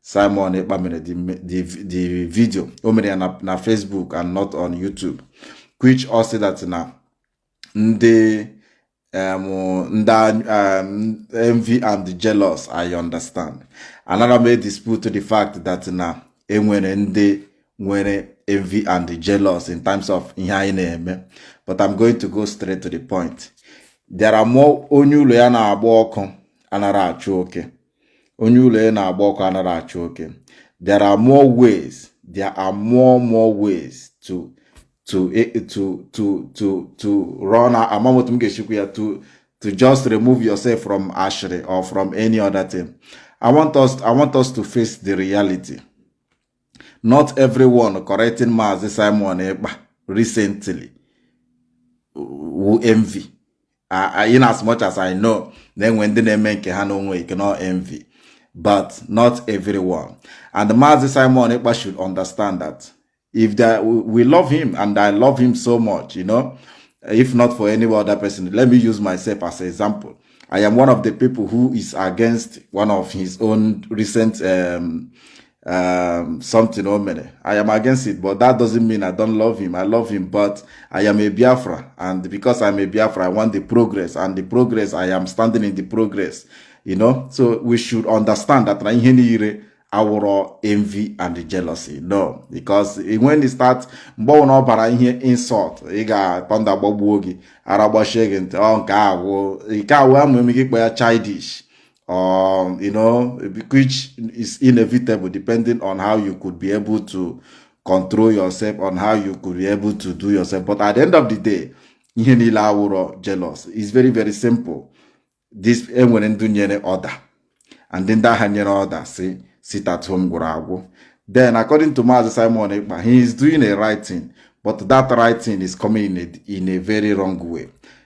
Simon Ekpa mere the video o mere ya na Facebook and not on YouTube which ọ sị that na ndị ndị envy and jealous I understand anara m edispute the fact that na enwere ndị nwere envy and jealous in terms of ihe anyị na-eme but I'm going to go straight to the point there are more onye ụlọ ya na-agba ọkụ anara achụ oke onye ụlọ ya na-agba ọkụ anara achụ oke there are more ways there are more more ways to to eh, to to to to run amam otu m ga-eshi kwuo ya to to just remove yourself from ashịrị or from any other thing I want us I want us to face the reality not everyone correcting Maazị Simon Ekpa recently wụ envy in as much as I know na enwe ndị na-eme nke ha na onwe ike no envy but not everyone and Mazi Simon Ekpa should understand that if that we love him and I love him so much you know if not for any other person let me use myself as an example I am one of the people who is against one of his own recent um, um, something o mere i am against it but that doesn't mean i don't love him i love him but i am a biafra and because i'm a biafra i want the progress and the progress i am standing in the progress you know so we should understand that na ihe niile awụrọ envy and jealousy no because when you start mgbe ọ na ọ bara ihe insult ị ga thunder gbagbuo gị ara gbachie gị ntị ọ nke awụ nke awụ amụ eme gị kpọ ya childish or you know which is inevitable depending on how you could be able to control yourself on how you could be able to do yourself but at the end of the day ihe niile awụrọ jealous is very very simple this enwere ndị nyere order and ndị agha nyere order si sit at home gwụrụ agwụ then according to Maazị Simon Ekpa he is doing a right thing but that right thing is coming in a, in a very wrong way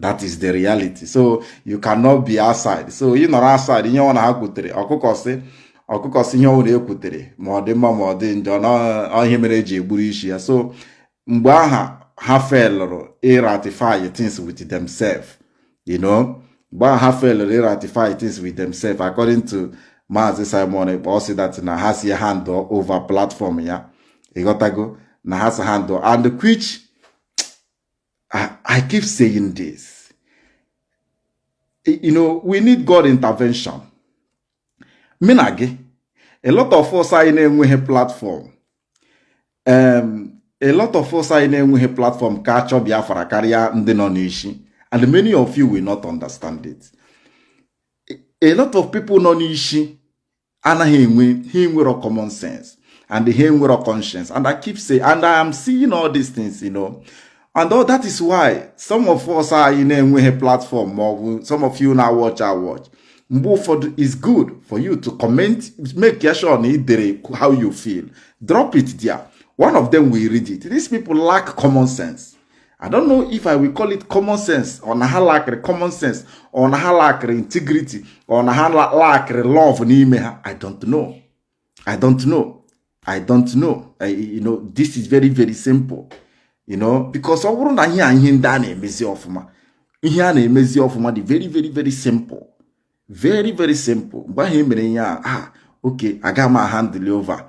that is the reality so you cannot be outside so ị nọrọ outside ihe ọnụ ha kwutere ọkụkọ sị ọkụkọ sị ihe ọnụ na-ekwutere ma ọ dị mma ma ọ dị njọ n'ihe mere eji egburu isi ya so mgbe aha ha felụrụ iratify things with themselves you know mgbe aha ha felụrụ iratify things with themselves according to Maazị Simon Ekpa ọ sị that na ha sị ya hand over platform ya ịghọtago na ha sị ya hand and which I, I keep saying this. You know, we need God intervention. Mụ na gị, a lot of us anyị na-enweghị platform. Um, a lot of us anyị na-enweghị platform ka achọ Biafra karịa ndị nọ n'isi and many of you will not understand it. A lot of people nọ n'isi anaghị enwe ha enwero common sense and ha enwero conscience and I keep saying and I am seeing all these things you know and all that is why some of us anyị na-enweghị platform or some of you na-awatch awatch mgbe ụfọdụ is good for you to comment make sure na i dere how you feel drop it there one of them will read it these people lack common sense I don't know if I will call it common sense or na ha lakịrị common sense or na ha lakịrị integrity or na ha lakịrị love n'ime ha I don't know I don't know I don't know I, you know this is very very simple you know because ọ wụrụ na ihe a ihe ndị a na-emezi ọfụma ihe a na-emezi ọfụma dị very very very simple very very simple mgbe ahụ emere ihe a ah okay aga m ahandle over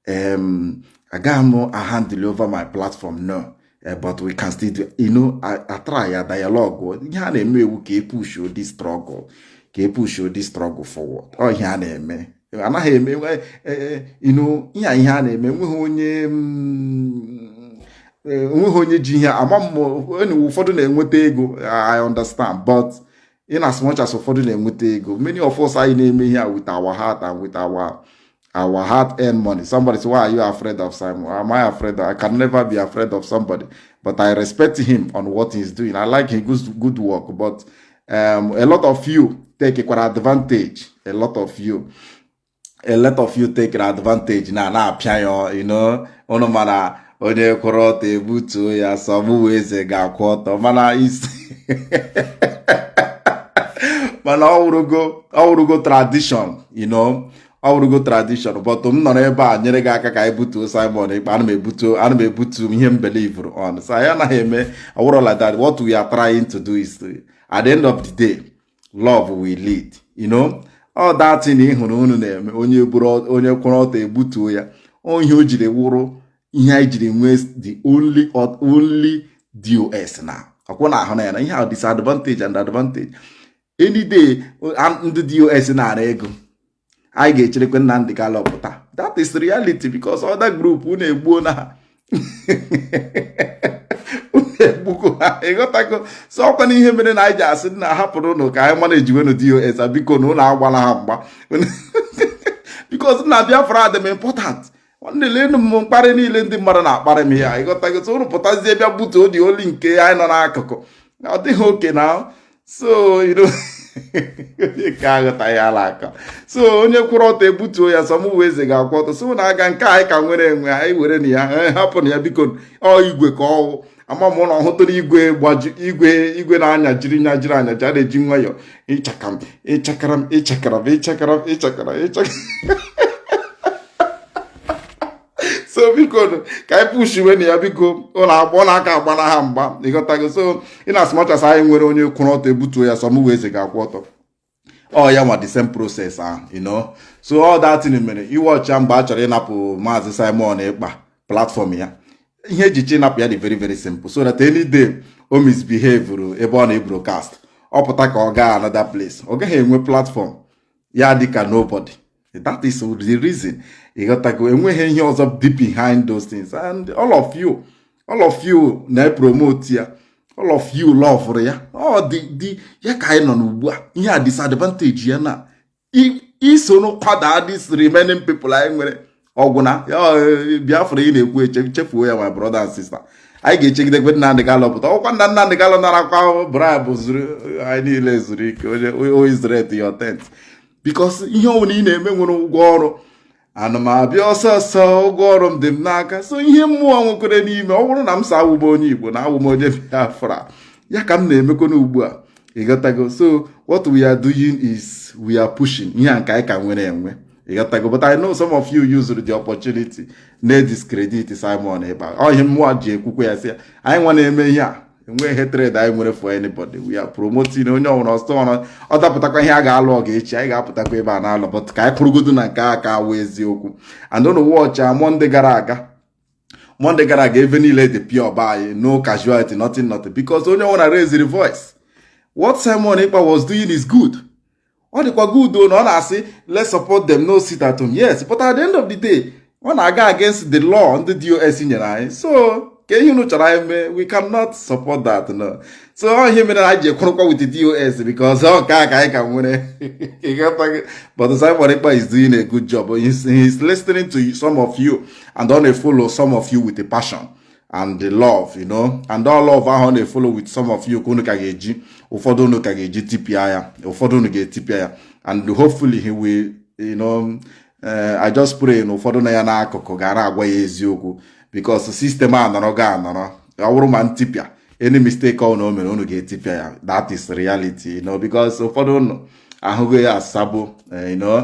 um aga m ahandle over my platform no eh, but we can still do you know atry ya dialogue ihe a na-eme wụ ka epushuo the struggle ka epushuo the struggle forward ọ ihe a na-eme anaghị eme eh, eh, you know ihe ihe a na-eme enweghị onye mm, enweghị onye ji ihe ama m ụfọdụ na-enweta ego I understand but in as much as ụfọdụ na-enweta ego many of us anyị na-eme ihe a with our heart and with our our heart earn money somebody say why are you afraid of Simon am I afraid of, I can never be afraid of somebody but I respect him on what he's doing I like his good, good work but um, a lot of you take kwara advantage a lot of you a lot of you take advantage na na-apịa ya you know ụnụ mara onye kwụrụ ọtọ ebutuo ya sọ mụwa eze ga-akwụ ọtọ mana isi mana ọwụrụgo tradition you know ọwụrụgo tradition but m nọrọ ebe a nyere gị aka ka anyị butuo Simon Ekpa ana m ebutuo ana m ebutu ihe m believuru on so anyị anaghị eme ọwụrụ like that what we are trying to do is to, at the end of the day love will lead you know all that thing ị hụrụ unu na-eme onye bụrụ onye kwụrụ ọtọ ebutuo ya ihe o jiri wụrụ ihe anyị jiri nwee the only only DOS now ọkwa unu ahụna ya na ihe a disadvantage and advantage any day ndị DOS nara ego anyị ga-echerekwe Nnamdi Kanu pụta that is reality because other group unu egbuona ha unu egbugo ha ịghọtago so ọkwanụ ihe mere na anyị ji asị na hapụrụnụ ka anyị managewenụ DOS bikonụ unu agbala ha mgba because na Biafra dị m important nwanne leenụ m mkparị niile ndị mmadụ na-akparị m ya ịghọtago so unu pụtazie bịa butuo the only nke anyị nọ n'akụkụ ọ dịghị okay now so ka aghọta ya ala aka so onye kwụrụ ọtọ ebutuo ya sọ mụwa eze ga-akwụ ọtọ so na aga nke anyị ka nwere enwe anyị werenụ ya hapụnụ ya bikonụ ọ igwe ka ọ wụ ama m na unu hụtụrụ igwe gbaju igwe igwe na-anya jiri nya jiri anya ji a na-eji nwayọọ ịchaka m ịchakara m ịchakara m ịchakara m ịchakara ịchakara so biko ka anyị pushiwenụ ya biko unu agba unu aka agbana ha mgba ịghọtago so in as much as anyị nwere onye kwụrụ ọtọ ebutuo ya sọ mụwa eze ga-akwụ ọtọ ọ ya nwa the same process ahụ you know so all that thing mere ị watchịa mgbe a chọrọ ịnapụ maazị Simon Ekpa platform ya ihe e ji chọọ ịnapụ ya dị very very simple so that any day o misbehavuru ebe ọ na-ebroadcast ọ pụta ka ọ gaa another place ọ gaghị enwe platform ya dịka nobody that is the reason ịghọtago enweghị ihe ọzọ deep behind those things and all of you all of you na-epromote ya all of you lovuru ya ọ dị dị ya ka anyị nọ n'ugbu a ihe a disadvantage ya na ị soro kwada this remaining people anyị nwere ọ gwụna e, biafra ị na-ekwu eche chefuo ya my brother and sister anyị ga-echegidekwe Nnamdi Kanu pụta ọkwa nna Nnamdi Kanu narakwa bribe zuru anyị niile zuru ike O ye Israel to your tent because ihe ọbụla ị na-eme nwere ụgwọ ọrụ ana m abịa ọsọ ọsọ ụgwọ ọrụ m dị m n'aka so ihe mụwa nwekwere n'ime ọ bụrụ na m sị awụ m onye igbo na awụ m onye biafra ya ka m na-emekwana ugbu a ịghọtago so what we are doing is we are pushing ihe a nke anyị ka nwere enwe ịghọtago but I know some of you used the opportunity na-ediscredit Simon Ekpa ọ ihe mụwa ji ekwukwe ya sị ya anyị nwa na-eme ihe a enweghị hatred anyị nwere for anybody we are promoting onye ọbụla ọsọ ọrụ ọ dapụtakwa ihe a ga-alụ ọgụ echi anyị ga-apụtakwa ebe a na-alụ but ka anyị kwụrụgodu na nke a ka wụ eziokwu and ụnụ wọchịa mọnde gara aga mọnde gara aga ebe niile dị pịa ọba anyị no casualty nothing nothing because onye ọbụla raised voice what Simon Ekpa was doing is good ọ dịkwa gị udo na ọ na-asị let's support them no sit at home yes but at the end of the day ọ na-aga against the law ndị DOS nyere anyị so kee ihe unu chọrọ anyị mee we cannot support that no so ọ ihe mere anyị ji kwụrụkwa with the DOS because ọ nke a ka anyị ka nwere but Simon Ekpa is doing a good job he's, he's listening to some of you and ọ na-efolo some of you with a passion and the love you know and ọ love ahụ ọ na-efolo with some of you ka unu ka ga-eji ụfọdụ unu ka ga-eji tipịa ya ụfọdụ unu ga-etipịa ya and hopefully he will you know eh, I just pray na ụfọdụ na ya n'akụkụ ga na-agwa ya eziokwu because system a nọrọ ga anọrọ ọ bụrụ ma ntipịa any mistake ọ na o mere unu ga-etipịa ya that is reality you know because ụfọdụ unu ahụghị ya asabụ eh, you know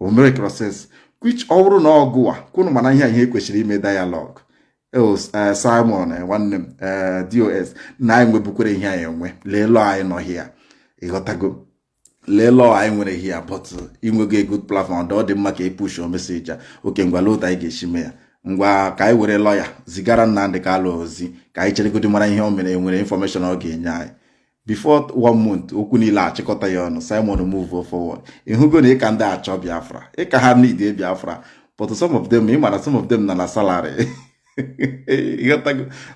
o mere process which ọ bụrụ na ọ gụwa kwụnụ mara ihe ihe kwesịrị ime dialogue oh, eh, Simon eh, nwanne m eh, DOS na anyị nwebukwere ihe anyị enwe lee law anyị nọ here ịghọtago lee law anyị nwere here but i nwego a good platform ọ dị mma ka ị push message a okay ngwa lee otu anyị ga-esi mee ya ngwa ka anyị were lawyer zigara Nnamdi Kanu ozi ka anyị cheregodi mara ihe o mere nwere information ọ ga-enye anyị before one month okwu niile achịkọta ya ọnụ Simon move forward ị hụgo na ị ka ndị achọ Biafra ị ka ha need Biafra but some of them ị mara some of them nọ na salary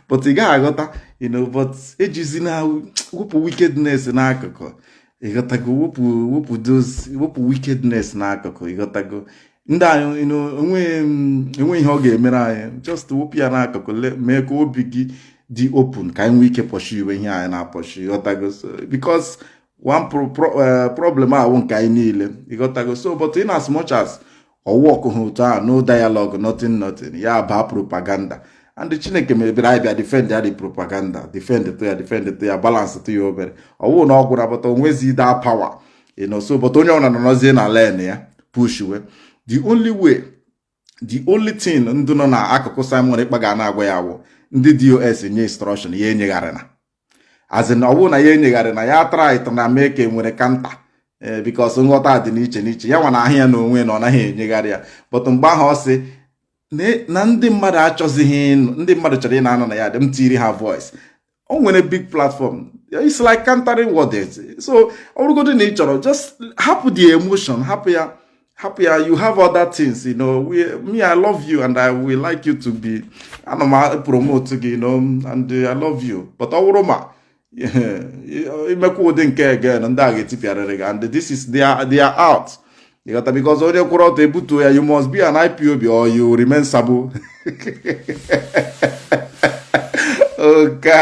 but ị gaghị aghọta you know but ejizi na wepụ wickedness n'akụkụ ịghọtago wepụ wepụ those wepụ wickedness n'akụkụ ịghọtago ndị anyị enweghị ihe ọ ga-emere anyị just wepụ ya n'akụkụ mee ka obi gị dị open ka anyị nwee ike pursuewe ihe anyị na-apursue ịghọtago because one eh, problem a wụ nke anyị niile ịghọtago so but in as much as ọ wụ ọkụ ha otu ahụ no dialogue nothing nothing ya baa propaganda and chineke mebere anyị bịa defend ya dị propaganda defend to ya defend to ya balance to ya obere ọwụ na ọ gwụrụ abata onwezi daa power you know so but onye ọna nọrọzie na lane ya pushwe the only way the only thing ndị nọ na akụkụ Simon Ekpa ga na-agwa ya wụ ndị DOS nye instruction ya enyegharịna as in ọwụ na ya enyegharịna ya trytana mee ka enwere counter eh, because nghọta dị n'iche n'iche ya nwa na ahụ ya na onwe na ọ naghị enyegharị ya but mgbe ahụ ọ sị na ndị mmadụ achọzighị ndị mmadụ chọrọ ị na-anọ na ya dị m tiri ha voice o nwere big platform it's like countering words so ọ bụrụgodị na ị chọrọ just hapụ the emotion hapụ ya hapụ ya you have other things you know we, me i love you and i will like you to be ana m promote gị you know and i love you but ọ bụrụ ma imekwa ụdị nke a again ndị a ga-etipịarịrị gị and this is they are, they are out ịghọta because onye kwụrụ ọtọ ebutuo ya you must be an IPOB or you remain sabo oka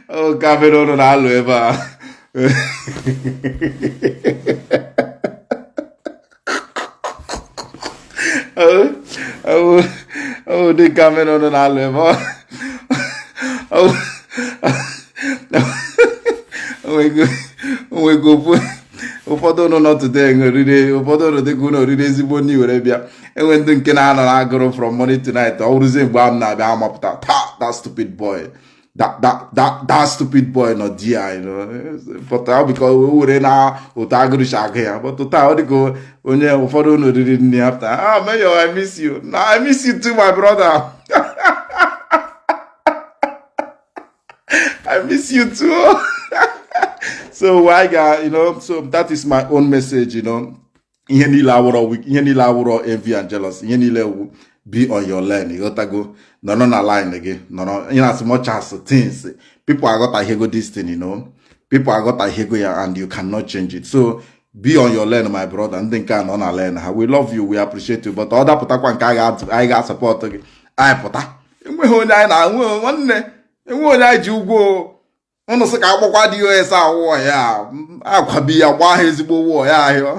oka mere ụnụ na-alụ ebe a ọ dị ka mere ụnụ na-alụ ebe a onwego onwego ụfọdụ ụnụ nọ today oriri ụfọdụ ụnụ dịka ụnụ oriri ezigbo nri were bịa enwe ndị nke na-anọ na agụrụ from morning to night ọ wụrụzie mgbe ahụ m na-abịa amapụta taa that stupid boy that that that that stupid boy nọ there you know but ọ bụkwa o were na otu agụrụ si agụ ya but taa ọ dịka onye ụfọdụ ụnụ oriri nri after ah mayor i miss you na i miss you too my brother I miss you too. so my guy, you know, so that is my own message, you know. Ihe niile awụrọ weak, ihe niile awụrọ envy and jealous, ihe niile wu be on your lane, ịghọtago nọrọ na lane gị nọrọ in as much as things people aghọtaghego this thing, you know. People aghọtaghego ya and you cannot change it. So be on your lane my brother ndị nke a nọ na lane ha we love you we appreciate you but ọ dapụtakwa nke anyị ga-asupport gị anyị pụta enweghị onye anyị na ya wụ nwanne enweghị onye anyị ji ụgwọ ụnụ sị ka agbakwa DOS waya a ga-abịa gbaa ha ezigbo waya ahịa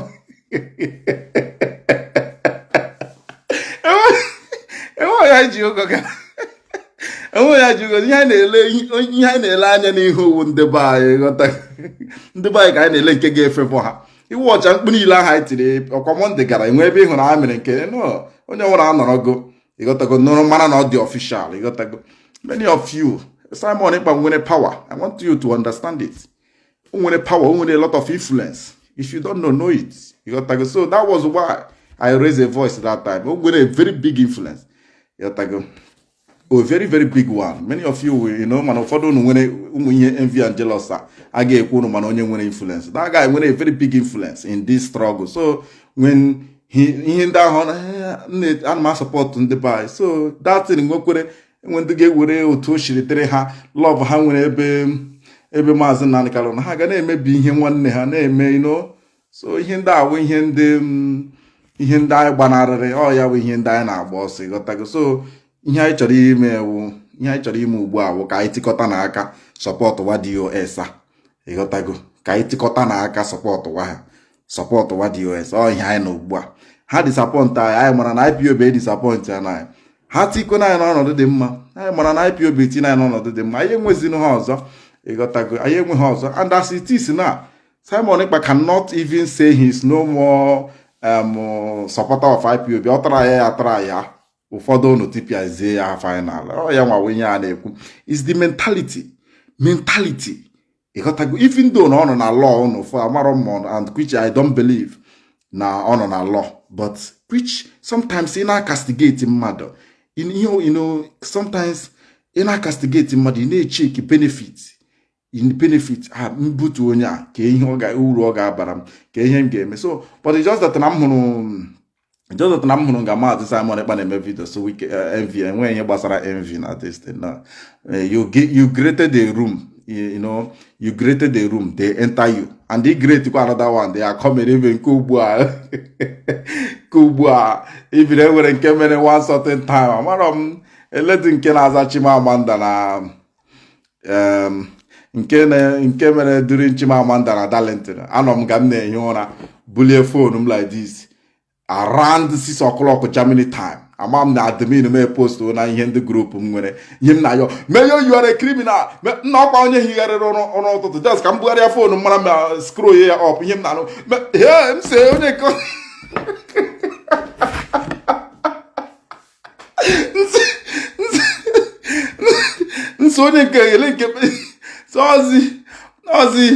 enweghị anyị ji ụgwọ ga onye anyị ji ụgwọ ihe anyị na-ele ihe anyị na-ele anya n'ihu ọ wụ ndị be anyị ghọta ndị be anyị ka anyị na-ele nke ga-efepụ ha ị hụcha mkpu niile ahụ anyị tiri ọkwa mọnde gara enwe ebe ị hụrụ ha mere nke onye nwụrụ anọrọgo ịghọtago nụrụ mara na ọ dị official ịghọtago many of you Simon Ekpa nwere power I want you to understand it o nwere power o nwere a lot of influence if you don't know know it ịghọtago so that was why I raised a voice that time o nwere a very big influence ịghọtago a very very big one many of you will you know mana ụfọdụ unu nwere ụmụ ihe envy and jealous a ga-ekwe unu mara onye nwere influence that guy nwere a very big influence in this struggle so when ihe ndị ahụ ana m asupport ndị be anyị so that thing nwekwere enwere ndị ga-ewere otu o siri dịrị ha love ha nwere ebe ebe maazị Nnamdi Kanu na ha ga na-emebi ihe nwanne ha na-eme you know so ihe ndị a wụ ihe ndị mm, ihe ndị anyị gbanarịrị ọ ya bụ ihe ndị anyị na-agba ọsọ ịghọtago so ihe anyị chọrọ ime wụ ihe anyị chọrọ ime ugbu a bụ ka anyị tikọta na aka support wa DOS a ịghọtago ka anyị tikọta na aka support wa ha support wa DOS ọ ihe anyị na ugbu a ha disappoint anyị anyị mara na IPOB edisappoint anyị ha tikwe na anyị n'ọnọdụ dị mma anyị mara na IPOB ti na anyị n'ọnọdụ dị mma anyị enwezinụ ha ọzọ ịghọtago anyị enwe ha ọzọ and as it is now Simon Ekpa cannot even say he is no more um, supporter of IPOB ọ try ya ya try ya ụfọdụ unu tipiazie ya final ọ ya nwa wụ ihe a na-ekwu is the mentality mentality ịghọtago even though na ọ nọ na law ụnụ fụ amarọ m and which I don't believe na ọ nọ na law but which sometimes ị na-acastigate mmadụ in ihe you know sometimes ị na-acastigate mmadụ ị na-echeki benefit in benefit ha m butuo onye a kee uru ọ ga-abara m ka ihe m ga-eme so but it's just that na m hụrụ just that na m hụrụ nga maazị Simon Ekpa na-eme video so wike eh, envy enweghị ihe gbasara envy na this thing na eh, you gi- you created the room you you know you created the room they enter you and they create kwa another one they are coming even nke ugbu a nke ugbu a even enwere nke mere one certain time amarọ m a lady nke na-aza Chimamanda na um, nke na nke mere during Chimamanda na Darlington anọ m nga m na-ehi ụra bulie phone m like this around 6 o'clock Germany time ama m na admin m epost na ihe ndị group m nwere ihe m na-ahụ Mayor you are criminal nna ọkwa onye higharịrị ụra ụtụtụ just ka m bugharịa phone mara ma scroll ya up ihe m na-anụ m sị onye nke nso onye nke ele nke ọzi ọzi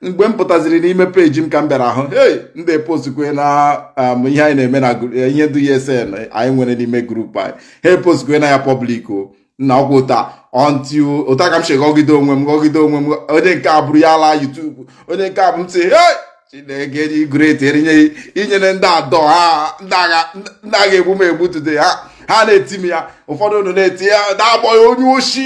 mgbe m pụtaziri n'ime page m ka m bịara ahụ hey ndị postkwe na um, ihe anyị na-eme na ihe decision anyị nwere n'ime group anyị ha postkwe na ya public o nna ọgwụ ụta ọntị ụta ka m si gọgide onwe m gọgide onwe m onye nke a eburu ya laa YouTube onye nke a bụ m sị chineke dị great erinye inyere ndị adọ ha ndị a ga-egbu m egbu today ha ha na-eti m ya ụfọdụ unu na-eti ya na-akpọ ya onye oshi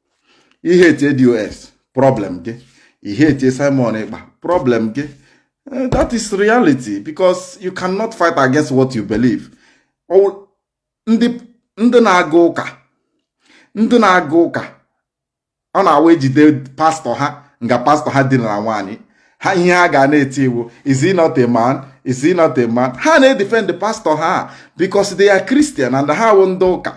ị hate DOS problem gị ị hate Simon Ekpa problem gị eh, that is reality because you cannot fight against what you believe ndị na-aga ụka ndị na-aga ụka ọ na-awụ e jide pastọ ha nga pastọ ha dinara nwaanyị ha ihe ha ga na-eti wụ is he not a man is he not a man ha na-edefend pastọ ha because they are Christian and ha wụ ndị ụka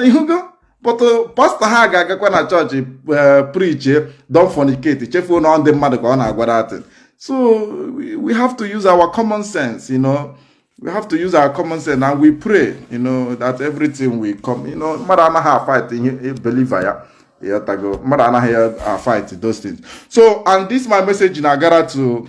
ị hụgo but pastọ ha ga-agakwa na chọọchị eh, preache don't fornicate chefuo na ndị mmadụ ka ọ na-agwa that so we have to use our common sense you know we have to use our common sense and we pray you know that everything will come you know mmadụ anaghị afight ihe o believere ị ghọtago mmadụ anaghị afight those things so and this my message na-agara to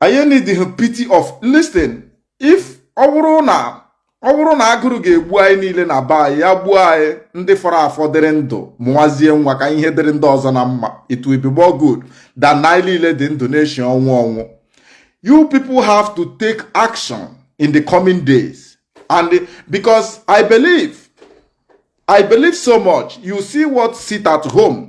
anyị need the pity of listen if ọ bụrụ na ọ bụrụ na agụrụ ga-egbu anyị niile na be anyị ya gbuo anyị ndị fọrọ afọ dịrị ndụ mụwazie nwa ka ihe dịrị ndị ọzọ na mma it will be more good than na anyị niile dị ndụ na-eshi ọnwụ ọnwụ you people have to take action in the coming days and the, because i believe i believe so much you see what sit at home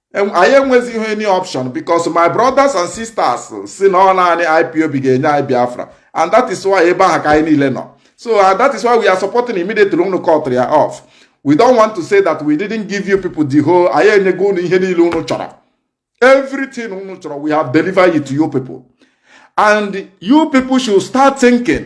anyị enwezighị any option because my brothers and sisters sị na ọ naanị IPOB ga-enye anyị Biafra and that is why ebe ahụ ka anyị niile nọ so uh, that is why we are supporting immediately unu cut ya off we don't want to say that we didn't give you people the whole anyị enyego unu ihe niile unu chọrọ everything unu chọrọ we have delivered it to you people and you people should start thinking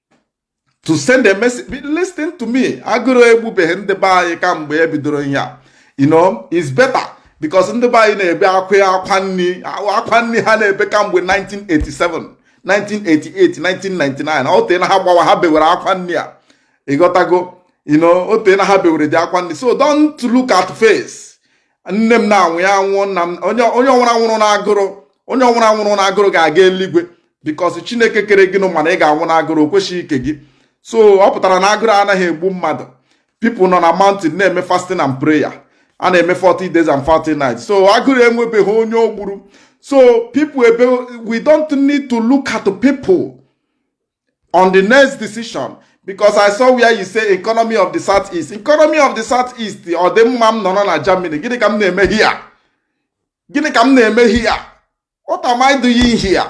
to send a message listen to me agụrụ egbubeghị ndị be anyị kamgbe e bidoro ihe a you know it's better because ndị be anyị na-ebe akwa akwa nri akwa nri ha na-ebe kamgbe 1987 1988 1999 o teena ha gbawa ha bewere akwa nri a ị ghọtago you know o teena ha bewere the akwa nri so don't look at face nne m na-anwụ ya nwụọ nna m onye ọwụla nwụrụ na agụrụ onye ọwụla nwụrụ na agụrụ ga-aga eluigwe because chineke kere gị nụ ma na ị ga-anwụ na agụrụ o kwesịghị ike gị so ọ pụtara na agụrụ anaghị egbu mmadụ people nọ na mountain na-eme fasting and prayer a na-eme 40 days and 40 nights so agụrụ enwebeghị onye o gburu so people ebe we don't need to look at people on the next decision because i saw where you say economy of the south east economy of the south east ọ dị mma m nọrọ na germany gịnị ka m na-eme here gịnị ka m na-eme here what am i doing here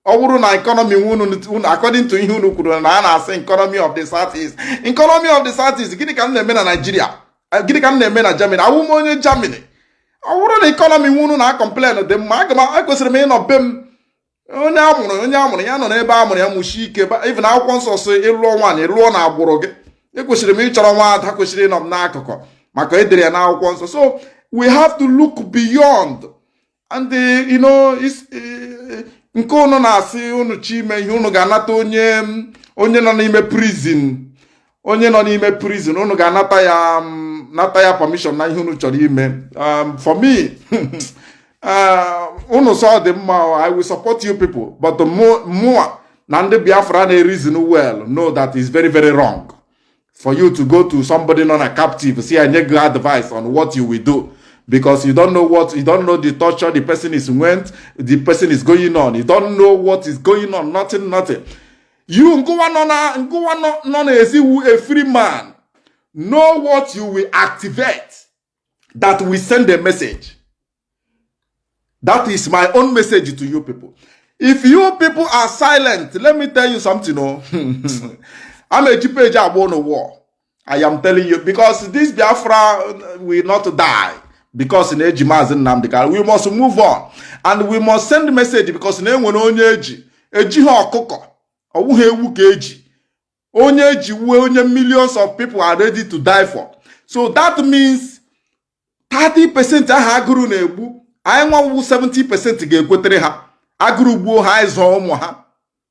ọ wụrụ na economy unu according to ihe unu kwuru na a na-asị economy of the south east economy of the south east gịnị ka m na-eme na nigeria eh, gịnị ka m na-eme na germany awụ m onye germany ọ wụrụ na economy unu na-acomplain dị mma aga m ekwesịrị m ịnọ be m onye amụrụ onye amụrụ ya nọ n'ebe amụrụ ya mụshie ike even akwụkwọ nsọ sị ị lụọ nwaanyị lụọ na agbụrụ gị ekwesịrị m ịchọrọ nwa ada kwesịrị ịnọ m n'akụkụ maka edere ya n'akwụkwọ nsọ so we have to look beyond and eh, you know eh, nke ụnụ na-asị ụnụ chọ ime ihe ụnụ ga-anata onye onye nọ n'ime prison onye nọ n'ime prison unu ga-anata ya um, nata ya permission na ihe unu chọrọ ime um, for me uh, unu sị ọ dị mma I will support you people but mụa na ndị Biafra na-ereason well know that is very very wrong for you to go to somebody nọ na captive sị ya nye gị advice on what you will do because you don't know what you don't know the torture the person is went the person is going on you don't know what is going on nothing nothing you ngụwa nọ na ngụwa nọ n'ezi wụ a free man know what you will activate that will send a message that is my own message to you people if you people are silent let me tell you something o oh. a m eji page agba ụnụ war I am telling you because this Biafra will not die because na eji maazị Nnamdi Kanu we must move on and we must send message because na enwere onye eji ejighị ọkụkọ ọ wụghị ewu ka eji onye eji wụ onye millions of people are ready to die for so that means 30 percent ahụ agụrụ na-egbu anyị nwa wụ 70 percent ga-ekwetere ha agụrụ gbuo ha anyị zụọ ụmụ ha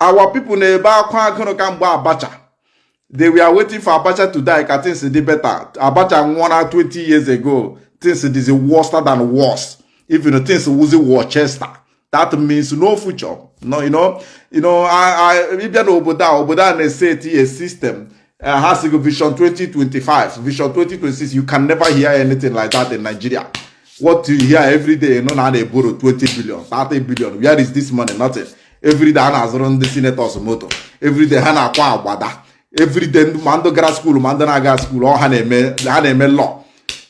our people na-ebe akwa agụrụ kamgbe abacha they were waiting for abacha to die ka things dị better abacha nwụọna 20 years ago things dịzi worse than worse even things wụzi worcester that means no future no you know you know ị bịa n'obodo a obodo a na-eseti a system eh, ha sị gị vision 2025 vision 2026 you can never hear anything like that in Nigeria what you hear every day wụ na a na-eborrow 20 billion 30 billion where is this money nothing every day ha na-azụrụ ndị senators moto every day ha na-akwa agbada every day ma ndị gara school ma ndị na-agaha school ọ ha na-eme ha na-eme law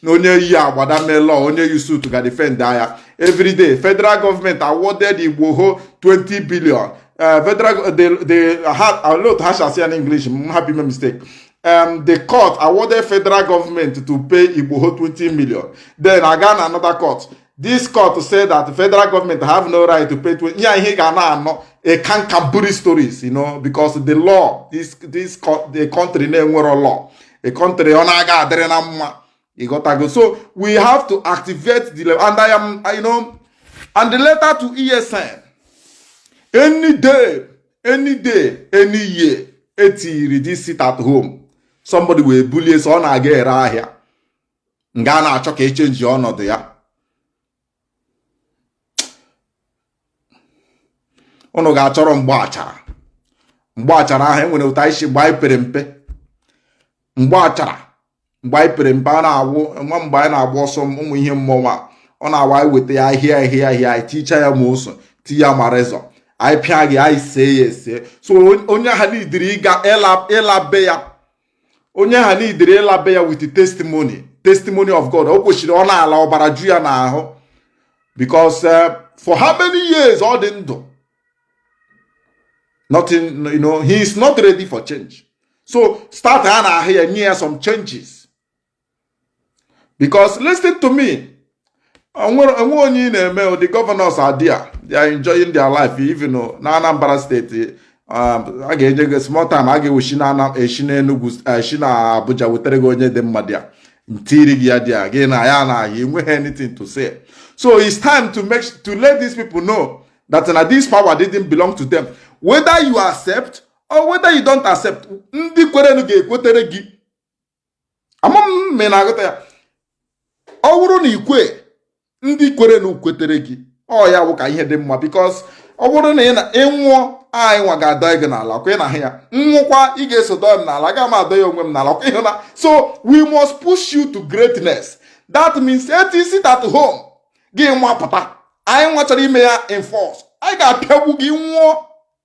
na onye yi agbada mee law onye yi suit ga defend agha everyday federal government awarded igboho 20 billion uh, federal go- the the ha alot ha shasi an english m happy me mistake um, the court awarded federal government to pay igboho 20 million then aga na another court this court say that the federal government have no right to pay to ya ihe ga na-anọ a cancaburi stories you know because the law this this the country na-enwero law a country ọ na-aga adịrị na mma ịghọtago so we have to activate the law and I am you know and the letter to ESN any day any day any year etiri this sit at home somebody will bully so ọ na-aga ere ahịa nga a na-achọ ka echenji ọnọdụ ya ụnụ ga-achọrọ mgba achara mgba achara ahụ enwere ụta isi mgbe anyị pere mpe mgba achara mgbe anyị pere mpe a na-awụ nwa mgbe anyị na-agba ọsọ ụmụ ihe mmọnwụ ọ na-awa anyị weta ya ahịa ahịa ahịa anyị ticha ya ma oso ti ya ma rezọ anyị pịa gị anyị see ya ese so onye ahụ needịrị ịga ịla be ya onye ahụ needịrị ịla be ya with testimony testimony of God o kwesịrị ọ na-ala ọbara ju ya n'ahụ because eh, for how many years ọ dị ndụ nothing you know he is not ready for change so startịa n'ahụ ya nye ya some changes because listen to me onwere onwe onye ị na-eme the governors are there they are enjoying their life even na Anambra state um, a ga-enye gị small time a ga-eshi na eshi na Enugu eshi na Abuja wetara gị onye dị mma there tiiri gị ya there gị na ya na-ahịa enweghị anything to say so it's time to make to let these people know that na this power didn't belong to them whether you accept or whether you don't accept ndị kwerenu ga-ekwetere gị ama m ma ị na-aghọta ya ọ bụrụ na ikwe ndị kwerenu kwetere gị ọ ya wụ ka ihe dị mma because ọ bụrụ na ị na ịnwụọ anyị nwa ga-adọ gị n'ala ọkwa ị na-ahụ ya nwụkwa ị ga-eso dọ m n'ala aga m adọ ya onwe m n'ala ọkwa ịhụ na so we must push you to greatness that means eti sit at home gị nwa pụta anyị nwa chọrọ ime ya enforce anyị ga-apịagbu gị nwụọ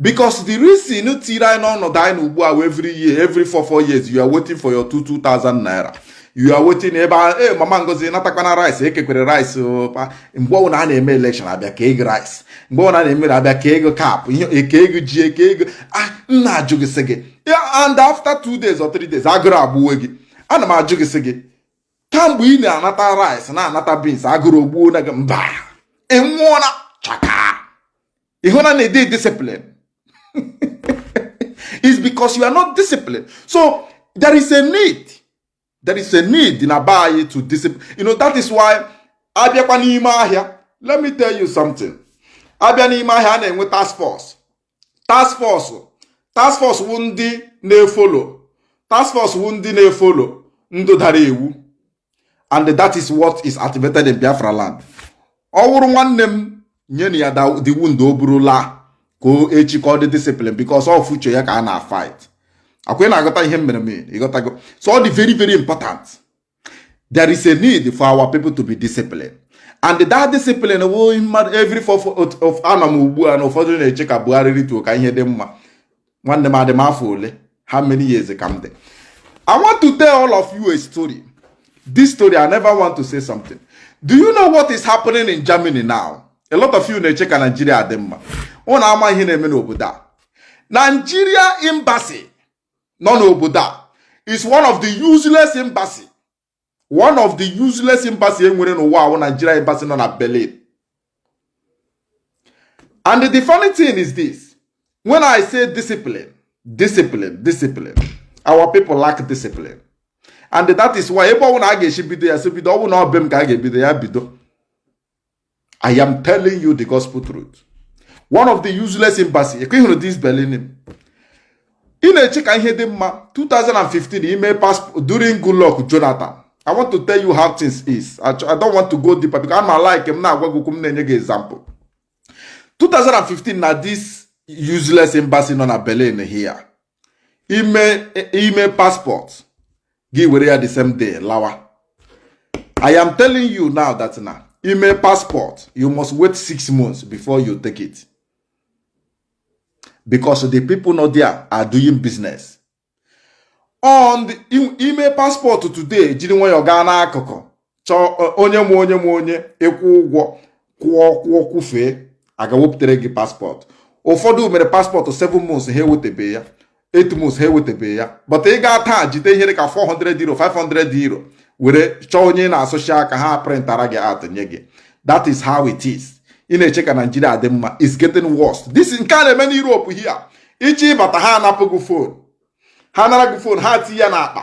because the reason tiri anyị n'ọnọdụ anyị nọ ugbu a wụ every year every four four years you are waiting for your two two thousand naira you are waiting ebe a ee eh, mama ngozi natakwana rice ekekwere rice oh, mgbe ọbụla a na-eme election abịa kee gị rice mgbe ọbụla a na-emere abịa kee gị cap ekee gị ji ekee gị ah m na-ajụ gị sị gị and after two days or three days agụrụ agbuwe gị ana m ajụ gị sị gị kamgbe ị na-anata rice na-anata beans agụrụ ogbuona gị mba ị nwụọla chaka ịhụna na ịdị discipline is because you are not disciplined so there is a need there is a need na be anyị to discipline you know that is why abịakwa n'ime ahịa let me tell you something abịa n'ime ahịa a na-enwe task force task force task force wụ ndị na-efolo task force wụ ndị na-efolo ndị dara iwu and that is what is activated in Biafra land ọ wụrụ nwanne m nyenụ ya the wound o buru laa ka echi ka ọ dị discipline because ọ future ya ka a na-afight ọkwa ị na-aghọta ihe mere m ịghọtago so ọ dị very very important there is a need for our people to be disciplined and that discipline wụ mmadụ every four of anọ m ugbu a na ụfọdụ na-eche ka Buhari rituo ka ihe dị mma nwanne m adị m afọ ole how many years ka m dị i want to tell all of you a story this story i never want to say something do you know what is happening in germany now a lot of you na-eche ka nigeria dị mma ụnụ ama ihe na-eme n'obodo a nigeria embassy nọ n'obodo a is one of the useless embassy one of the useless embassy e nwere n'ụwa a wụ Nigeria embassy nọ na Berlin and the funny thing is this when I say discipline discipline discipline our people lack discipline and that is why ebe ọwụna a ga-esi bido ya si bido ọ wụ na ọbe m ka a ga-ebido ya bido I am telling you the gospel truth. One of the useless embassy ka ị hụrụ this Berlin. Ị na-eche ka ihe dị mma 2015 i mee passport during Goodluck Jonathan. I want to tell you how things is. I, I don't want to go deeper because ana m alike m na-agwa gị okwu m na-enye gị example. 2015 na this useless embassy nọ na Berlin here. ime ime passport gị were ya the same day lawa i am telling you now that na ime passport you must wait six months before you take it because the people not there are doing business on the ime passport today jiri nwayọọ gaa n'akụkụ chọọ onye ma onye ma onye ị kwụọ ụgwọ kwụọ kwụọ kwụfee a gaa wepụtara gị paspọtụ ụfọdụ mere paspọtụ 7 months ha ewetebe ya 8 months ha ewetebe ya but ị gaa taa jide ihe dị ka 400 euro 500 euro were chọọ onye ị na-asụchi aka ha prịntara gị out nye gị that is how it is ị na-eche ka naijiria dị mma is getting worse this nke a na-eme n'Europe here ị chọọ ịbata ha anapụ gị fon ha nara gị fon ha tinye ya n'akpa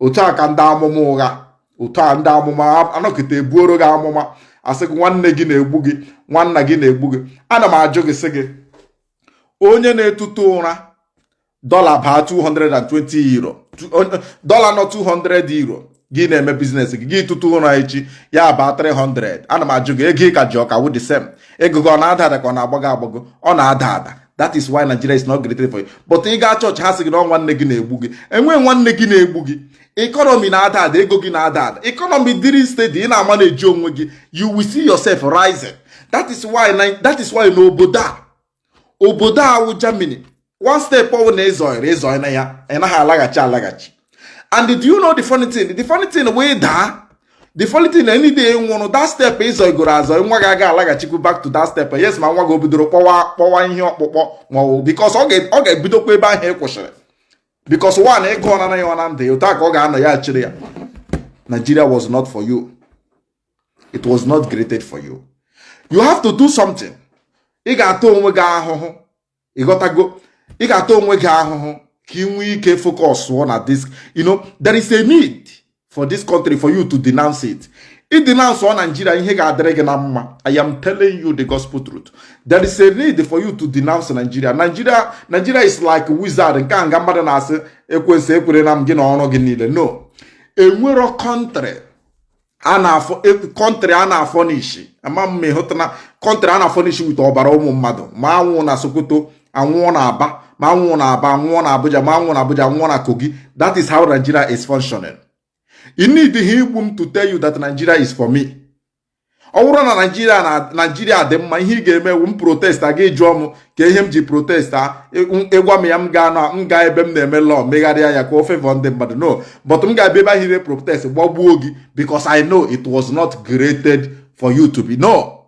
otu a ka ndị amụma ụgha otu a ndị amụma anọkịta ebuoro gị amụma asị gị nwanne gị na-egbu gị nwanna gị na-egbu gị ana m ajụ gị sị gị onye na-etutu ụra dọla baa 220 euro dọla nọ 200 euro gị na-eme biznes gị ga-etutu ụra echi ya baa 300 ana m ajụ gị ego ị ka ji ọ ka wụ the same ego gị ọ na-ada ada ka ọ na-agbago agbago ọ na-ada ada that is why Nigeria is not created for you but ị gaa chọọchị ha sị gị na nwanne gị na-egbu gị enwe nwanne gị na-egbu gị economy na-ada ada ego gị na-ada ada economy dịrị steady ị na-amanage onwe gị you will see yourself rising that is why that is why na obodo a obodo a wụ Germany one step ọwụna ị zọrọ ị zọọna ya ị naghị alaghachi alaghachi and do you know the funny thing the funny thing wụ that the funny thing na any day ị nwụrụ that step ị zọgoro azọ nwa gị aga alaghachikwu back to that step yes ma nwa gị obidoro kpọwa ihe ọkpụkpọ ma ọ bụ because ọ ga-ebidokwa ebe ahụ ị kwụsịrị because one ịgụ ọ nanaghị ọ na ndụ ya otu a ka ọ ga-anọ ya chịrị ya Nigeria was not for you it was not created for you you have to do something ị ga-ata onwe gị ahụhụ ịghọtago ị ga-ata onwe gị ahụhụ ka ị nwee ike focusụọ na this you know there is a need for this country for you to denounce it ị denounceụọ Nigeria ihe ga-adịrị gị na mma I am telling you the gospel truth there is a need for you to denounce Nigeria Nigeria Nigeria is like wizard nke a nga mmadụ na-asị ekwensu ekwere na m gị na ọrụ gị niile no enwero country a na-afọ country e, a na-afurnish ama m ịhụtana country a na-afurnish with ọbara ụmụ mmadụ ma anwụ na sokoto anwụọ na aba ma anwụọ na aba anwụọ na abuja ma anwụọ na abuja anwụọ na kogi that is how nigeria is functioning you need ihe igbu m to tell you that nigeria is for me ọ wụrụ na nigeria na nigeria dị mma ihe ị ga-eme wụ m protest aga ịjụọ m ka ihe m ji protest a ị gwa m ya m gaa na m gaa ebe m na-eme law megharịa ya ka o favor ndị mmadụ no but m ga-abịa ebe ahụ ire protest gbagbuo gị because I know it was not created for you to be no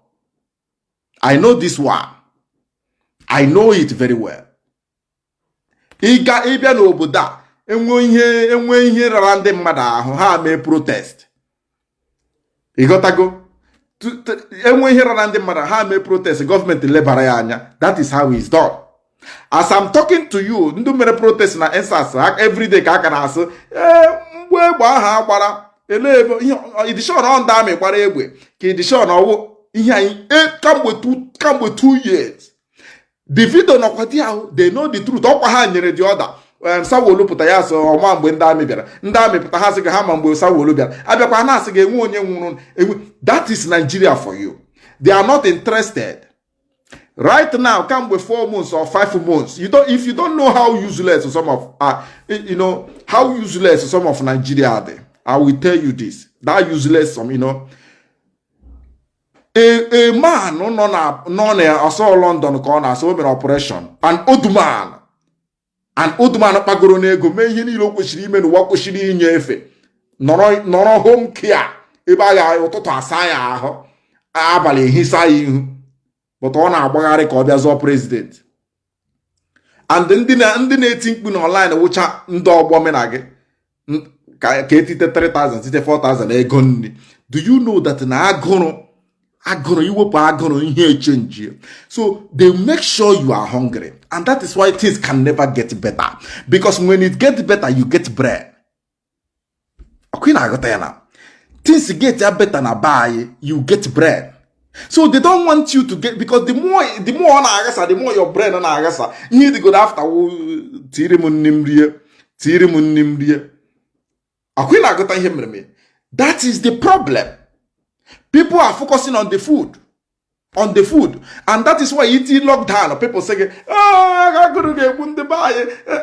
I know this one I know it very well ịga ịbịa n'obodo a enwe ihe enwe ihe rara ndị mmadụ ahụ ha mee protest ịghọtago enwe ihe rara ndị mmadụ ha mee protest gọọmenti lebara ya anya that is how it's done as I'm talking to you ndị mere protest na EndSARS everyday ka a ka na-asị ee eh, mgbe egbe ahụ a gbara elee ebe edition ọ ndị army gbara egbe ka edition ọ wụ ihe anyị eh, kamgbe two years the video nọkwa there ahụ they know the truth ọkwa ha nyere the order Sanwo-Olu pụta ya sị ọ ma mgbe ndị army bịara ndị army pụta ha sị gị ha ma mgbe Sanwo-Olu bịara abịakwa ha na-asị gị enwe onye nwụrụ enwe that is Nigeria for you they are not interested right now kamgbe four months or five months you don't if you don't know how useless some of uh, you know how useless some of Nigeria are I will tell you this that useless some you know a man nọ na nọ na asọ London ka ọ na-asọ o mere operation an old man an old man kpagoro n'ego mee ihe niile o kwesịrị ime n'ụwa kwesịrị inye efe nọrọ home care ebe a ga ụtụtụ asaa ya ahụ abalị ehisa ya ihu but ọ na-agbagharị ka ọ bịa zọọ president and ndị na-eti mkpu na online wụcha ndị ọgbọ mụ na gị ka etite 3000 tite 4000 ego nri do you know that na agụrụ agụrụ i wepụ agụrụ ihe echenji so they make sure you are hungry and that is why things can never get better because when it get better you get brain ọ kwa ị na-aghọta ya na things get ya better na be anyị you get brain so they don't want you to get because the more the more ọ na-aghasa the more your brain na-aghasa ihe dịgoro after tiri m nni m rie tiri m nni m rie ọ kwa ị na-aghọta ihe mere mere that is the problem people are focusing on the food on the food and that is why e tie lockdown people sị gị ah, agụrụ ga-egbu ndị be anyị eh,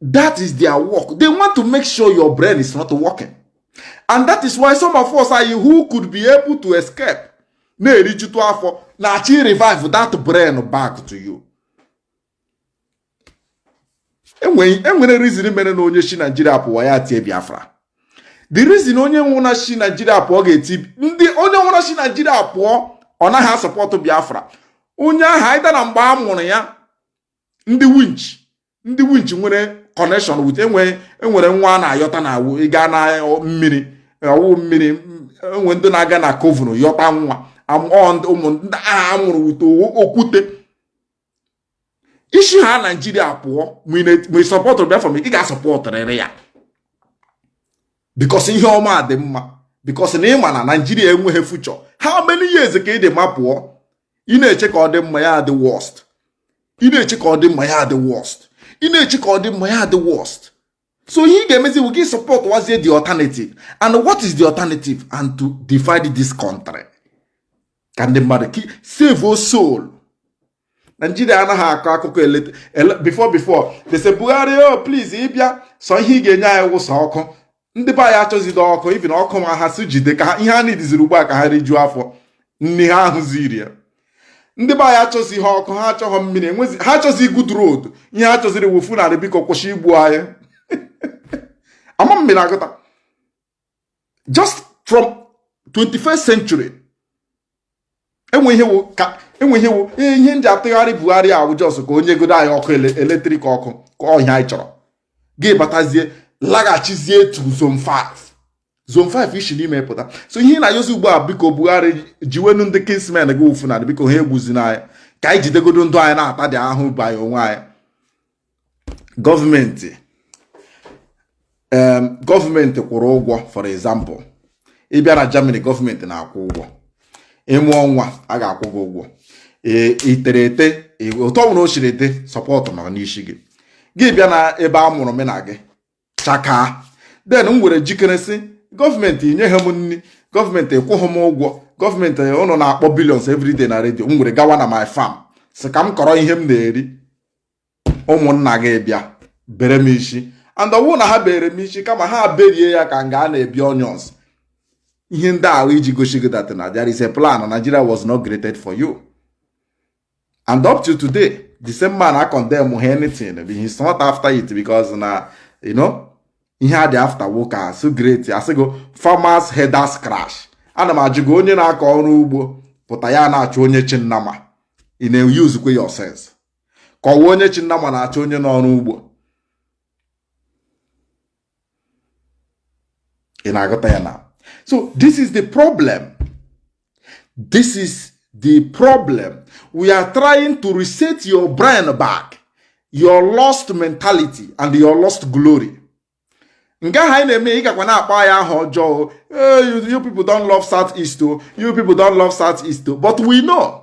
that is their work they want to make sure your brain is not working and that is why some of us who could be able to escape na-erijutu afọ na-achọ revive that brain back to you e nwere reason mere na onye si Nigeria pụwa ya tie Biafra the reason onye ọwụna si Nigeria pụọ ga-eti ndị onye ọwụna si Nigeria pụọ ọ naghị a-support Biafra onye ahụ either na mgbe a mụrụ ya ndị winch ndị winch nwere connection with enwere enwere nwa a na-ayọta na ọ wụ ịga na mmiri ọ wụ mmiri e nwee ndị na-aga na coven yọta nwa ụmụ ndị ahụ a mụrụ wute okwute i si ha naijiria pụọ ma ị sọpọtụrụ Biafra ị ga-asọpọtụrịrị ya because ihe ọma dị mma because na ị ma na naijiria enweghị future how many years ka ị dị ma pụọ ị na-eche ka ọ dị mma ya dị worst ị na-eche ka ọ dị mma ya dị worst ị na-eche ka ọ dị mma ya dị worst so ihe ị ga-emezi bụ gị supportwazie the alternative and what is the alternative and to divide this country ka ndị mmadụ save our soul Nigeria anaghị akọ akụkọ eleta before before they say Buhari oh please ị bịa sọ ihe ị ga-enye anyị wụ sọ ọkụ ndị be anyị achọzide ọkụ even ọkụ ma ha sị jide ka ihe ha needịziri ugbu a ka ha rijuo afọ nni ha ahụzighị ya ndị be anyị achọzighị ọkụ ha achọghọ mmiri enwezi ha achọzi good road ihe ha chọziri wụ Fulani biko kwụsị igbu anyị ama m ma ị na-aghọta just from 21st century enwe ihe wụ ka enwe ihe wụ ee ihe e ji atụgharị Buhari wụ just ka o nyegodo anyị ọkụ ele- electric ọkụ ọ wụ ihe anyị chọrọ gị batazie laghachizie to zone 5 zone 5 i si n'ime pụta so ihe ị na-ayọzi ugbu a biko Buhari jiwenụ ndị kinsmen gị wụ Fulani biko ha egbuzina anyị ka anyị jidegodo ndụ anyị na-atadị ahụhụ anyị onwe anyị gọọmenti gọọmenti kwụrụ ụgwọ for example ị bịa na Germany gọọmenti na-akwụ ụgwọ ị mụọ nwa a ga-akwụ gị ụgwọ e, itere ete e, ụtọ nwere o siri dị support nọ n'isi gị gị bịa na ebe a mụrụ m na gị chakaa then m were jikere sị gọọmenti nyeghị m nri gọọmenti ekwụghị m ụgwọ gọọmenti ụnụ na-akpọ billions everyday na redio m were gawa na my farm sị ka m kọrọ ihe m na-eri ụmụnna gị bịa bere m isi and ọwụ na ha bere m isi kama ha berie ya ka nga a na-ebi onions ihe ndị ahụ iji gosi gị that na there is a plan Nigeria was not created for you and up to today the same man a condemn ha anything but he's not after it because na you know ihe a dị after nwoke a so great asịgo farmers herders clash ana m ajụ gị onye na-akọ ọrụ ugbo pụta ya na-achụ onye chị nnama ị na-eusekwe your sense ka ọwụ onye chị nnama na-achụ onye nọ ọrụ ugbo ị na-aghọta ya na so this is the problem this is the problem we are trying to reset your brain back your lost mentality and your lost glory nke ahụ anyị na-eme ị gakwa na-akpọ anyị aha ọjọọ you people don't love south east o oh. you people don't love south east o oh. but we know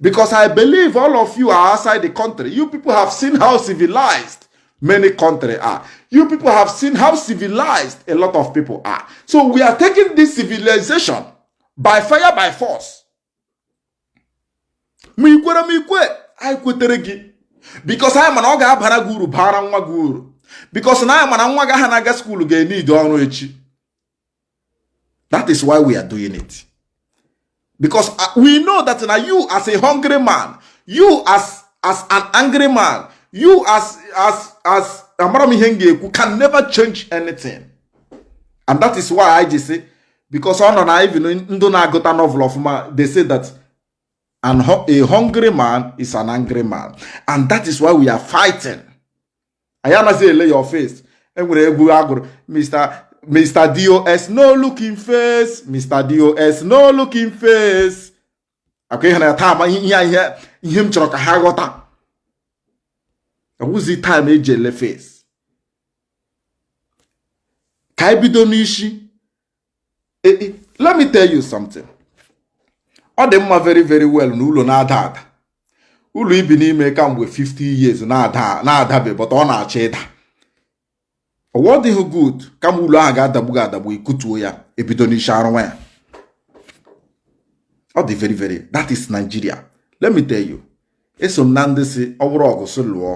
Because I believe all of you are outside the country. You people have seen how civilized many countries are. You people have seen how civilized a lot of people are. So we are taking this civilization by fire, by force. ma ikwere ma ikwe anyị kwetere gị because anyị ma na ọ ga-abara gị uru bara nwa gị uru because na anyị ma na nwa gị ahụ na-aga skuulu ga-eneed ọrụ echi that is why we are doing it because uh, we know that na you as a hungry man you as as an angry man you as as as amara m ihe m ga-ekwu can never change anything and that is why i ji say because ọ nọ na even ndụ na-agụta novel ọfụma they say that and a hungry man is an angry man and that is why we are fighting anyị anaghị ele your face enwere egwu agụrụ Mr. Mr. DOS no looking face Mr. DOS no looking face akwa ihe na ya taa ihe ihe m chọrọ ka ha ghọta ọwụzi time eji ele face ka anyị bido n'isi e, e, let me tell you something ọ dị mma very very well na ụlọ na-ada ada ụlọ ibi n'ime kamgbe 50 years na-adabe but ọ na-achọ ịda ọwa ọ dịghị good kama ụlọ ahụ ga-adagbu gị adagbu ikutuo ya ebido n'isi arụwa ya ọ dị very very that is Nigeria let me tell you eso m na ndị sị ọ bụrụ ọgụ sị lụọ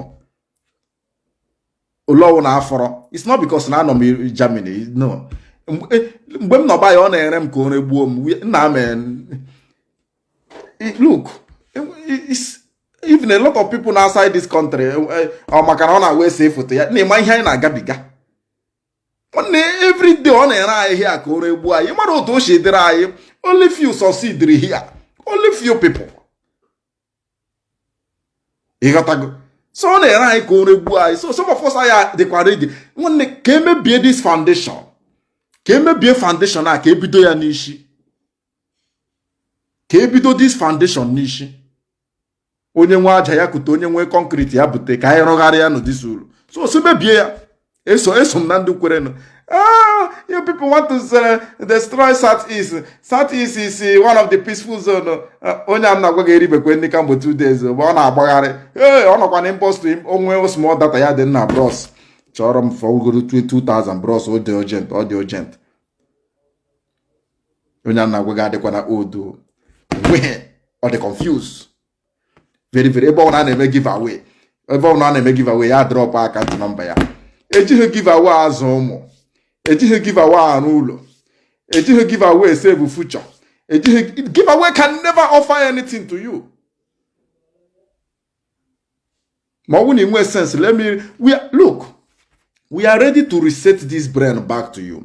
ole ọwụna fọrọ it's not because na anọ m Germany no mgbe eh, m nọba ya ọ na-ere m ka o regbuo m nna m eh, look eh, even a lot of people nọ outside this country ọ maka na ọ na-agwa ese foto ya na-ema ihe anyị na-agabiga nwanne everyday ọ na-ere anyị here ka o regbuo anyị mara otu o si dịrị anyị only few succeed here only few people ịghọtago so ọ na-ere anyị ka o regbuo anyị so some of us anyị dịkwa ready nwanne ka emebie this foundation ka emebie foundation a ka ebido ya n'isi ka ebido this foundation n'isi onye nwe aja ya kute onye nwe concrete ya bute ka anyị rụgharịa nụ this ụlọ so so mebie ya eso eso m na ndị kwerenụ ah you people want to uh, destroy south east south east is uh, one of the peaceful zone uh, onye a m na-agwa gị eribekwa nni kamgbe two days but ọ na-agbagharị ee ọ nọkwa na inbox o nwee small data ya dee nna bros chọọrọ m fọgoro 2000 bros ọ dị urgent ọ dị urgent onye a m na-agwa gị adịkwa na udo ọ dị confused very very ebe ọbụla a na-eme giveaway ebe ọbụla a na-eme giveaway ya drọpụ account number ya ejighị giveaway azụ ụmụ ejighị giveaway arụ ụlọ ejighị giveaway save future ejighị giveaway can never offer anything to you ma ọ bụ na ị nwee sense let me we are, look we are ready to reset this brain back to you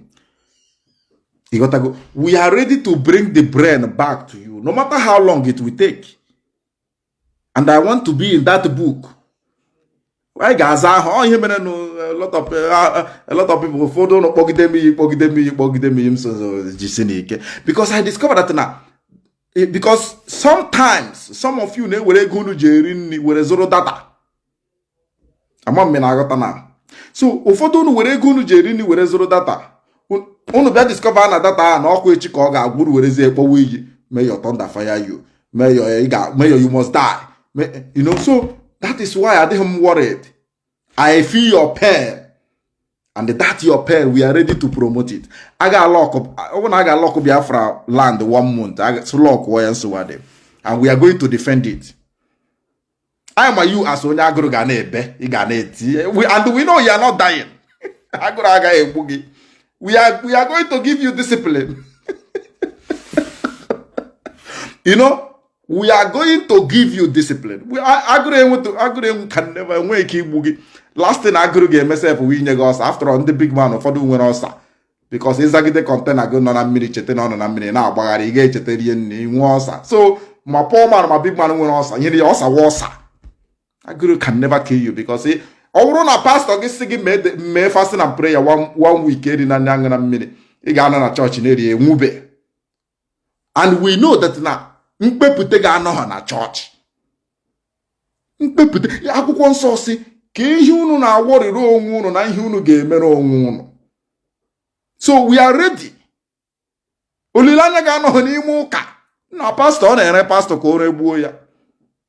ị ghọtago we are ready to bring the brain back to you no matter how long it will take and i want to be in that book anyị ga-aza ahụ ọ ihe mere nụ a lot of a- a lot of people ụfọdụ unu kpọgide m iyi kpọgide m iyi kpọgide m iyi m so so jisi n'ike because i discovered that na eh, because sometimes some of you na-ewere ego unu ji eri nri were zụrụ data ama m na-aghọta na so ụfọdụ unu were ego unu ji eri nri were zụrụ data unu bịa discover na data ahụ na ọ kwa echi ka ọ ga-agwụrụ werezie kpọwa iyi mayor thunder fire you mayor you must die you know so that is why adịghị m worried i feel your pain and that your pain we are ready to promote it a ga-alọkụ ọ bụrụ na a ga-alọkụ biafra land one month lọkụọ ya nsogbu adị and we are going to defend it anyị ma you as onye agụrụ ga na-ebe ị ga na-eti and we know you are not dying agụrụ agaghị egbu gị we are we are going to give you discipline you know we are going to give you discipline agụrụ enwe agụrụ enwe can never enwe ike igbu gị last thing agụrụ ga-eme sef wee nye gị ulcer after all ndị big man ụfọdụ nwere ulcer because ịzagide container gị nọ na mmiri cheta na ọ nọ na mmiri na-agbagharị ị ga-echeta rie nni i nwee ulcer so ma poor man ma big man nwere ulcer nyere ya ulcer wụ ulcer agụrụ can never kill you because ọ bụrụ na pastọ gị sị gị mee fasting and prayer one week erina nni aṅụna mmiri ị ga-anọ na chọọchị na-eri enwube and we know that na mkpepụta gị anọghị na chọọchị mkpepụta akwụkwọ nsọ sị ka ihe unu na-awọrịrị onwe unu na ihe unu ga-emere onwe unu so we are ready olileanya gị anọghị n'ime ụka na pastọ ọ na-ere pastọ ka o regbuo ya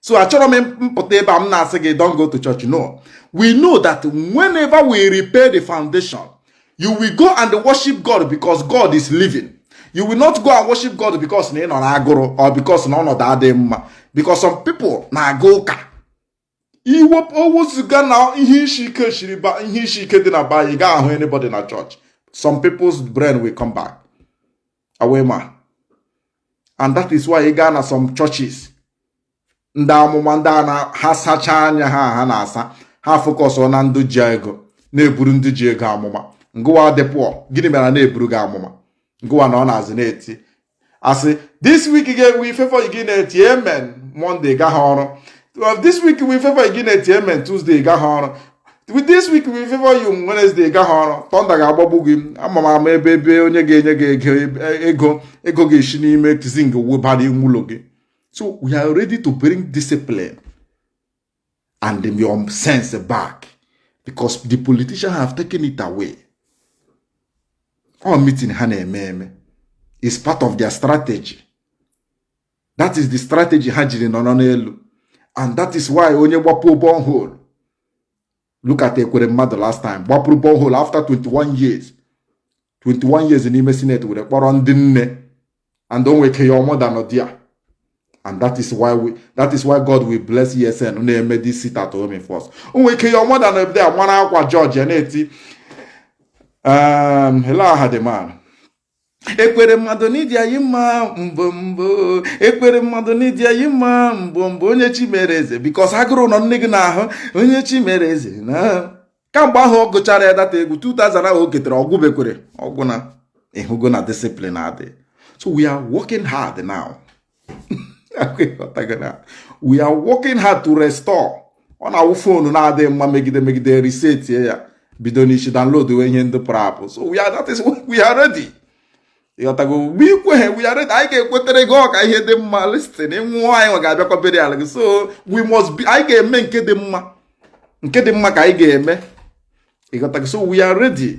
so achọrọ m mpụta ebe a m na-asị gị don't go to church no we know that whenever we repair the foundation you will go and worship God because God is living you will not go and worship God because na ị nọ n'agụrụ or because na ọnọdụ adịghị mma because some people na-aga ụka iwepụ owuziga na ihe isi ike shiri ihe isi ike dị na ba ị ga-ahụ anybody na church some people's brain will come back awema and that is why ị gaa na some churches ndị amụma ndị a na ha sachaa anya ha ha na-asa ha focus na ndị ji ego na-eburu ndị ji ego amụma ngụwa dị poor gịnị mere na-eburu gị amụma ngụwa na ọ na-azị na-eti a sị this week ga-enwe favor gị na-eti amen Monday gaghị ọrụ this week will favor gị na-eti amen Tuesday gaghị ọrụ with this week will favor you Wednesday gaghị ọrụ thunder ga-agbagbu gị ama m ama ebe ebe onye ga-enye gị ego ego ga-esi n'ime zinc wee bara ime ụlọ gị so we are ready to bring discipline and your sense back because the politicians have taken it away all meeting ha na-eme eme is part of their strategy that is the strategy ha jiri nọrọ n'elu and that is why onye gbapụọ borehole look at Ekweremadu last time gbapụrụ borehole after 21 years 21 years n'ime senate were kpọrọ ndị nne and o nwe ike your mother nọ there and that is why we that is why God will bless ESN na-eme this sit at home first o nwe ike your mother nọ there mara akwa George na-eti um, hello aha dị man Ekweremadu na ị dị anyị mma mbụ mbụ Ekweremadu na ị dị anyị mma mbụ mbụ onye chi mere eze because agụrụ nọ nne gị n'ahụ onye chi mere eze na kamgbe ahụ ọ gụchara ya that egwu 2000 ahụ o ketere ọ gwụbekwere ọ gwụna ị hụgo na discipline adị so we are working hard now we are working hard to restore ọ na-awụ phone na-adịghị mma megide megide resetie ya bido n'isi downloaduwe ihe ndị pụrụ apụ so we are that is we are ready ị ghọtago mgbe ị kweghị we are ready anyị ga-ekwetere gị ọka ihe dị mma listen ị nwụọ anyị nwa ga-abịakwa burial gị so we must be anyị ga-eme nke dị mma nke dị mma ka anyị ga-eme ị ghọtago so we are ready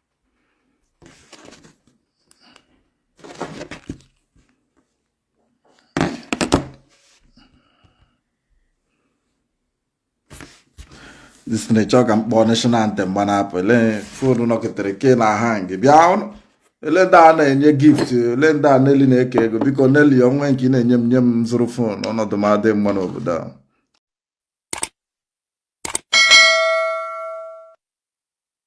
disney chọọ ka m kpọọ national anthem gbanapụ ele phone nọketere ke na-ahang bịanụ ele ndị a na-enye gift ele ndị a Nelly na-eke ego biko Nelly o nwe nke ị na-enye m nye m zụrụ phone ọnọdụ m adị mma n'obodo a